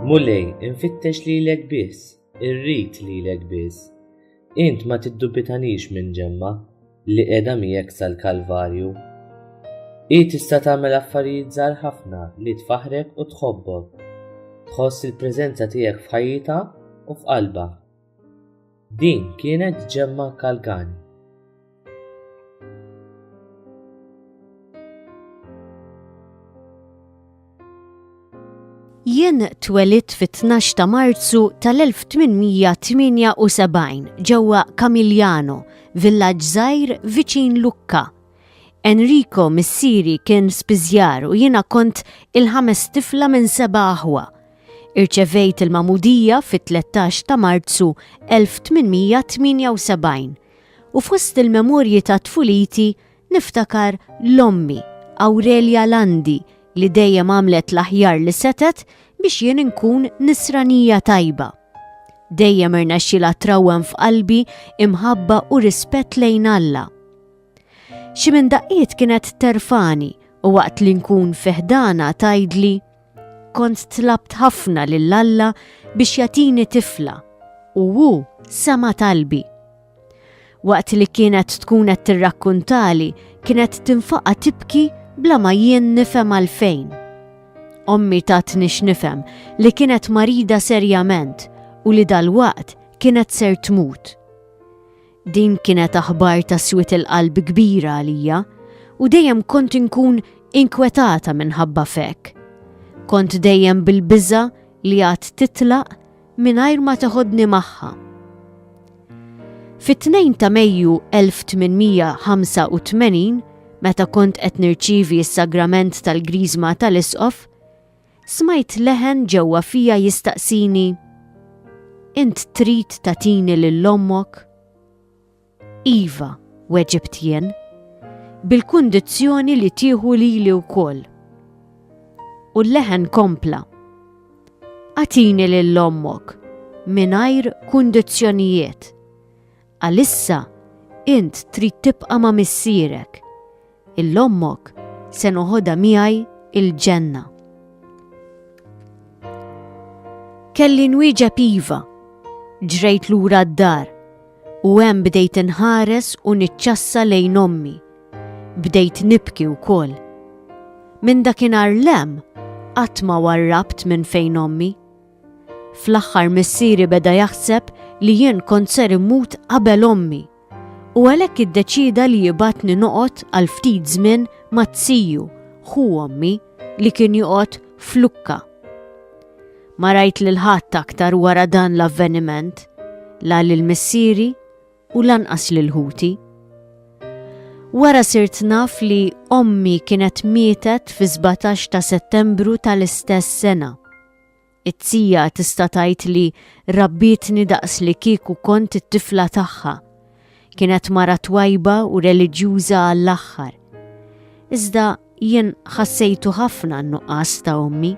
Mulej, infittex lilek biss, irrid lilek biss. Int ma tiddubitanix minn ġemma li qiegħda miegħek sal-Kalvarju. Hi tista' tagħmel affarijiet żgħar ħafna li tfaħrek u tħobbok. Tħoss il-preżenza tiegħek f'ħajjitha u f'qalbha. Din kienet ġemma kalkani. Jien twelit fit-12 ta' Marzu tal-1878 ġewwa Camigliano, villaġġ żgħir viċin Lukka. Enrico missieri kien spiżjar u jiena kont il-ħames tifla minn seba' aħwa. Irċevejt il-magħmudija fit-tlettax ta' Marzu 1878 u fost il-memorji ta' tfuliti niftakar 'l ommi, Awrelja Landi, li dejjem għamlet l-aħjar li setgħet biex jien inkun nisranija tajba. Dejjem irnexxilha trawwem f'qalbi imħabba u rispett lejn Alla. Xi minn daqqiet kienet terfagħni u waqt li nkun fi ħdanha tgħidli, Kont tlabt ħafna lil Alla biex jagħtini tifla u hu sema' talbi. Waqt li kienet tkun qed tirrakkuntali kienet tinfaqa' tibki bla ma jien nifhem għalfejn. Ommi tatni x'nifhem li kienet marida serjament u li dalwaqt kienet ser tmut. Din kienet aħbar ta' swied il-qalb kbira għalija u dejjem kont inkun inkwetata minħabba f'hekk. Kont dejjem bil-biża' li għad titlaq mingħajr ma teħodni magħha. Fit-2 ta' Mejju 1885, meta kont qed nirċievi s-sagrament tal-Griżma tal-Isqof, Smajt leħen ġewwa fija jistaqsini, Int trid tagħtini lil ommok? Iva, weġibt jien, bil-kundizzjoni li tieħu lili wkoll. U l-leħen kompla, Agħtini lil ommok mingħajr kundizzjonijiet. Għalissa int trid tibqa' ma' missierek. Lil ommok se noħodha miegħi l-ġenna. Kelli nwieġeb iva. Ġrejt lura d-dar u hemm bdejt inħares u niċċassa lejn ommi. Bdejt nibki wkoll. Minn dakinhar 'l hemm qatt ma warrabt minn fejn ommi. Fl-aħħar missieri beda jaħseb li jien kont ser immut qabel ommi u għalhekk iddeċieda li jibgħatni noqgħod għal ftit żmien ma' tziju, ħu ommi, li kien joqgħod flukka. Ma rajt lil ħadd aktar wara dan l-avveniment, la lil missieri u lanqas lil ħuti. Wara sirt naf li ommi kienet mietet fi 17 ta' settembru tal-istess sena. It-tija tista' tgħid li rabbietni daqs li kieku kont it-tifla tagħha. Kienet mara twajba u reliġjuża għall-aħħar. Iżda jien ħassejtu ħafna n-nuqqas ta' ommi.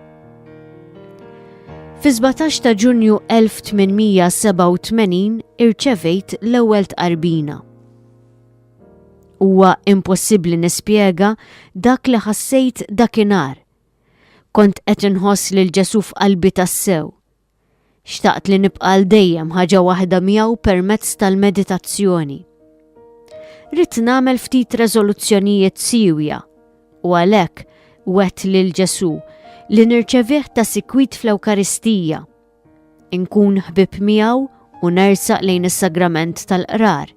Fi 17 ta' Ġunju 1887 irċevejt l-ewwel tqarbina. Huwa impossibbli nispjega dak li ħassejt dakinhar Kont qed inħoss lil Ġesù f'qalbi tassew. Xtaqt li nibqa' għal dejjem ħaġa waħda miegħu permezz tal-meditazzjoni. Ridt nagħmel ftit reżoluzzjonijiet siewja u għalhekk wet lil Ġesù li nirċevih ta' sikwit fl-Ewkaristija, inkun ħbib miegħu u nersaq lejn is-sagrament tal-qrar.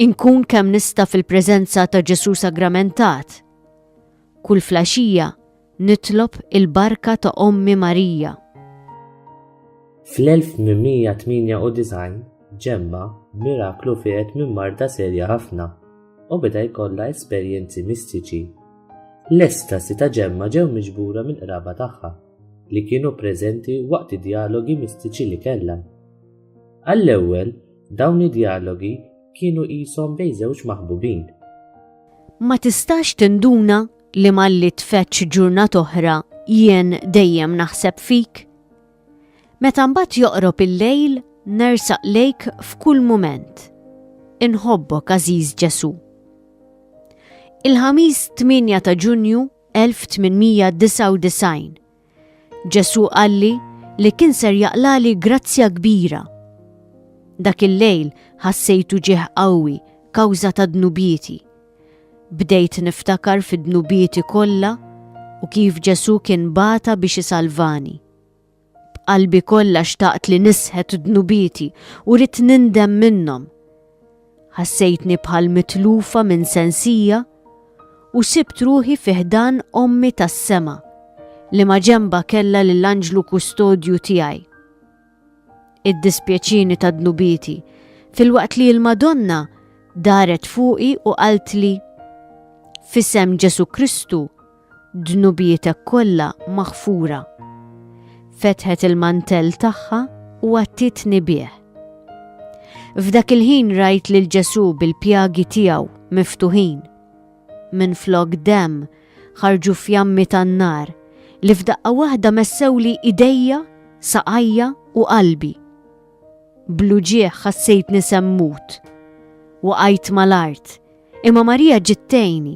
Inkun kemm nista' fil-preżenza ta' Ġesù sagramentat. Kull flaxxija nitlob il-barka ta' Ommi Marija. Fl-1898 Ġemma b'miraklu fieqet minn marda serja ħafna u beda jkollha esperjenzi mistiċi. L-estasi ta' Ġemma ġew miġbura mill-qraba tagħha li kienu preżenti waqt id-djalogi mistiċi li kellha. Għall-ewwel, dawn id-djalogi kienu qishom bejn żewġ maħbubin. Ma tistax tinduna li malli tfeċċ ġurnat oħra jien dejjem naħseb fik? Meta mbagħad joqrob il-lejl nersaq lejk f'kull mument. Inħobbok għażiż Ġesu. Il-ħamis 8 ta' Ġunju 1899 Ġesù qalli li kien ser jaqlali grazzja kbira. Dak il-lejl ħassejtu ġieħ qawwi kawża ta' dnubieti. Bdejt niftakar fi dnubieti kollha u kif Ġesù kien bata biex isalvani. B'qalbi kollha xtaqt li nisħet dnubieti u ridt nindem minnhom. Ħassejtni bħal mitlufa minn sensija u sibt ruħi fi ħdan Ommi tas-Sema li ma' ġenbha kellha lill-anġlu kustodju tiegħi. Iddispjaċini ta' dnubieti filwaqt li l-Madonna daret fuqi u qaltli, F'isem Ġesù Kristu, dnubietek kollha maħfura. Fetħet il-mantell tagħha u għattietni bih. F'dak il-ħin rajt lil Ġesu bil-pjagi tiegħu miftuħin. Minn flok dem ħarġu fjammi tan-nar li f'daqqa waħda messewli idejja, saqajja u qalbi. Bluġieħ ħassejtni semmut. Waqajt mal-art Imma Marija ġiet tgħinni.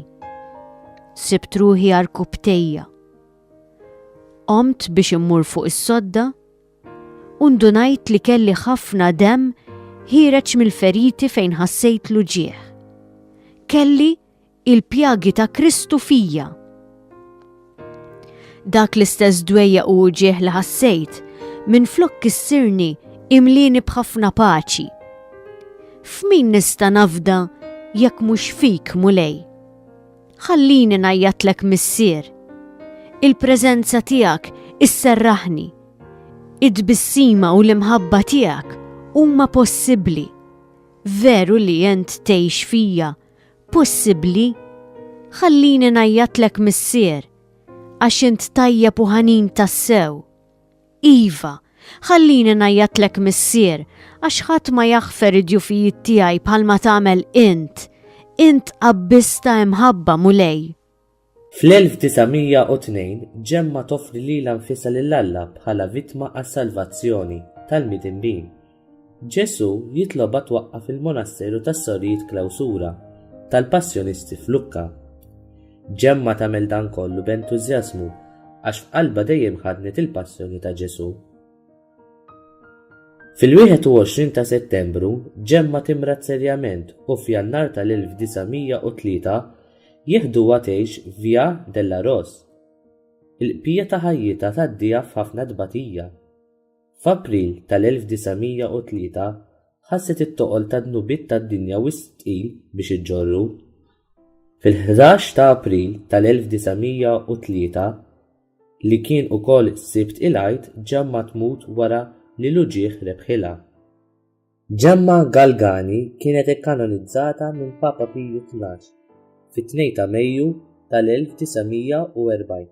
Sibt ruħi arkubtejja. Qomt biex immur fuq is-sodda u ndunajt li kelli ħafna dem ħireċ mill-feriti fejn ħassejt l ġieħ. Kelli il-pjagi ta' Kristu fija. Dak l-istess dwejja u uġieħ li ħassejt, minn flok kissirni imlini b'ħafna paċi. F'min nista' nafda jekk mhux fik, Mulej? Ħallini najjatlek missier. Il-preżenza tiegħek isserraħni. Id-bissima u l-imħabba tiegħek huma possibbli. Veru li jent tgħix fija possibbli? Ħallini ngħajjatlek Missier, għax int tajjeb u ħanin tassew. Iva, ħallini ngħajjatlek Missier, għax ħadd ma jaħfer id-djufijiet tiegħi bħalma tagħmel int. Int qabbis ta' imħabba, Mulej. Fl-1902 Ġemma toffri lilha nfisha lil Alla bħala vittma għas-salvazzjoni tal-midinbin. Ġesù jitlobha twaqqaf il-monasteru tas-Sorijiet Klawsura tal-Passjonisti f'Lukka. Ġemma tagħmel dan kollu b'entużjażmu għax f'qalbha dejjem ħaddnet il-passjoni ta' Ġesù. Fil-21 ta' Settembru, Ġemma timrad serjament u f'Jannar tal-1903 jeħduha tgħix f'Via della Rose. Il-bqija ta' ħajjitha tgħaddiha f'ħafna tbatija. F'April tal-1903 ħasset it-toqol tad-dnubiet tad-dinja wisq tqil biex iġġorru. Fil-ħdax ta' April tal-1903 li kien ukoll Sibt il-Għid Ġemma tmut wara li l-uġigħ rebħilha. Ġemma Galgani kienet ikkanonizzata minn Papa Piju Tnax fit-2 ta' Mejju tal-1940.